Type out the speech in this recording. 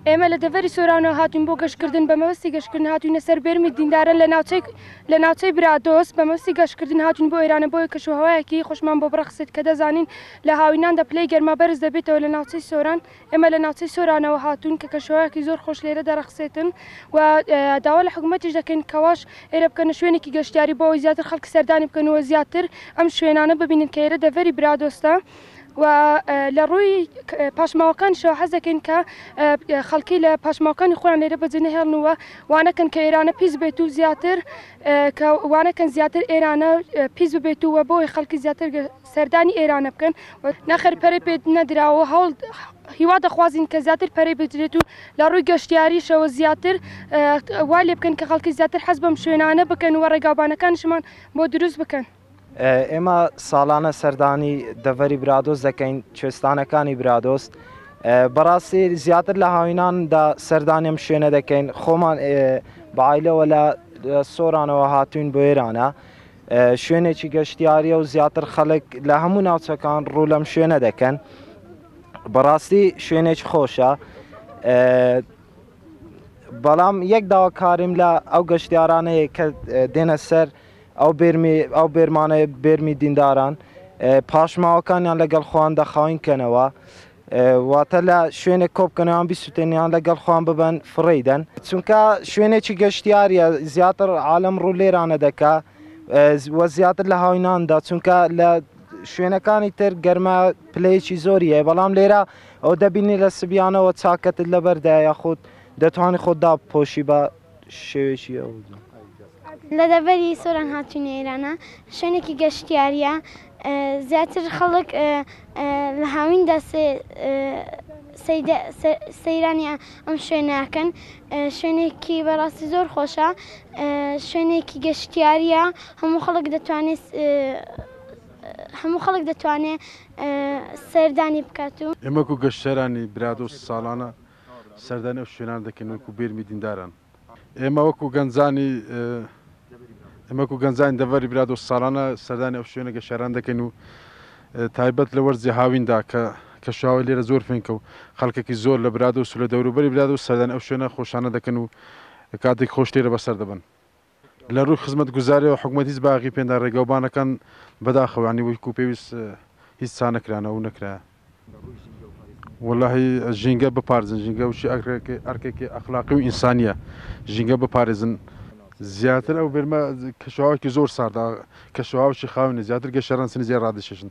ئێمە لە دەڤری سۆرانەوە هاتوین بۆ گەشتکردن بە مەوەستی گەشتکردن هاتوینە سەر بێرمی دیندارە لە ناوچەی لە ناوچەی برادۆست بە مەوسی گەشتکردن هاتون بۆ ئێرانە بۆی کەشوهوایەکی خۆشمان بۆ بڕەخسێت کە دەزانین لە هاویناندا پلەی گەرما بەرز دەبێتەوە لە ناوچەی سۆران ئێمە لە ناوچەی سۆرانەوە هاتووین کە کەشوهەوایەکی زۆر خۆش لێرە دەڕەخسێتن و داوا لە حکوومەتیش دەکەین کەواش ئێرە بکەنە شوێنێکی گەشتیاری بۆ ئەوی زیاتر خەڵکی سەردانی بکەنەوە زیاتر ئەم شوێنانە ببینن کە ئێرە دەڤەری برادۆستە و لە ڕووی پاشماوەکانشەوە حەز دەکەین کە خەڵکی لە پاشماوەکانی خۆیان لێرە بەجێ نەهێڵنەوە وانەکەن کە ئێرانە پیس بێت و زیاتر کە وانەکەن زیاتر ئێرانە پیس ببێت و وە بۆی خەڵکی زیاتر سەردانی ئێرانە بکەن و نەخێر پەرەی پێ نەدراوە هەوڵ هیوا دەخوازین کە زیاتر پەرەی بدرێت و لە ڕووی گەشتیاریشەوە زیاتر وا لێ بکەن کە خەڵکی زیاتر حەز بەم شوێنانە بکەن و ڕێگاوبانەکانشمان بۆ دروست بکەن. ئێمە ساڵانە سەردانی دەڤەری برادۆست دەکەین، کوێستانەکانی برادۆست بەڕاستی زیاتر لە هاویناندا سەردانیم شوێنە دەکەین خۆمان بە عیلەوە لە سۆرانەوە هاتوین بۆ ئێرانە شوێنێکی گەشتیاریە و زیاتر خەڵک لە هەموو ناوچەکان ڕوو لەم شوێنە دەکەن بەڕاستی شوێنێکی خۆشە بەڵام یەک داواکاریم لە ئەو گەشتیارانەیە کە دێنە سەر ئەو بێرمی ئەو بێرمانە بێرمی دینداران پاشماوەکانیان لەگەڵ خۆیان دەخاوین کەنەوە واتە لە شوێنێک کۆبکەنەوەیان بیسوتێنیان لەگەڵ خۆیان ببەن فڕێی دەن چونکە شوێنێکی گەشتیاریە زیاتر عالم ڕوو لێرانە دەکا وە زیاتر لە هاویناندا چونکە لە شوێنەکانی تر گەرمە پلەیەکی زۆری هەیە بەڵام لێرە ئەو دەبینی لە سبیانەوە چاکەتت لەبەردا یاخود دەتوانانی خۆتدا پۆشی بە شێوێکی ئەوجە. لە دەڤەری سۆران هاتووینە ئێرانە، شوێنێکی گەشتیارییە، زیاتر خەڵک لە هاویندا سەیرانی ئەم شوێنە ئەکەن، شوێنێکی بەڕاستی زۆر خۆشە، شوێنێکی گەشتیارییە، هەموو خەڵک دەتوانێت هەموو خەڵک دەتوانێت سەردانی بکات و. ئێمە وەکوو گەشتیارانی برادۆست ساڵانە سەردانی ئەو شوێنانە دەکەین وەکو بێرمی دینداران. ئێمە وەکو گەنجانی ئێمە وەکو گەنجانی دەڤەری برادۆست ساڵانە سەردانی ئەو شوێنە گەشاران دەکەین و تایبەت لە وەرزی هاویندا کە کەشوهەوای لێرە زۆر فێنکە و خەڵکێکی زۆر لە برادۆست و لە دەوروبەری برادۆست سەردانی ئەو شوێنە خۆشانە دەکەن و کاتێک خۆش لێرە بەسەر دەبەن. لە رووی خزمەتگوزاریەوە حکومەت هیچ باغی پێندا رێگەوبانەکان بەداخەوە یانی وەکو پێویست هیچ چانەکرانەوە و نەکرایە وەلاهی ژینگە بپارزن ژینگە وشی ئەرکێکی ئەخلاقی و ئینسانیە ژینگە بپارێزن زیاتر ئەو بێرمە کەشوهاوکی زۆر ساردا کەشوهاوکی خاوێنە زیاتر گەشەران سنیزیای رادەشێشن.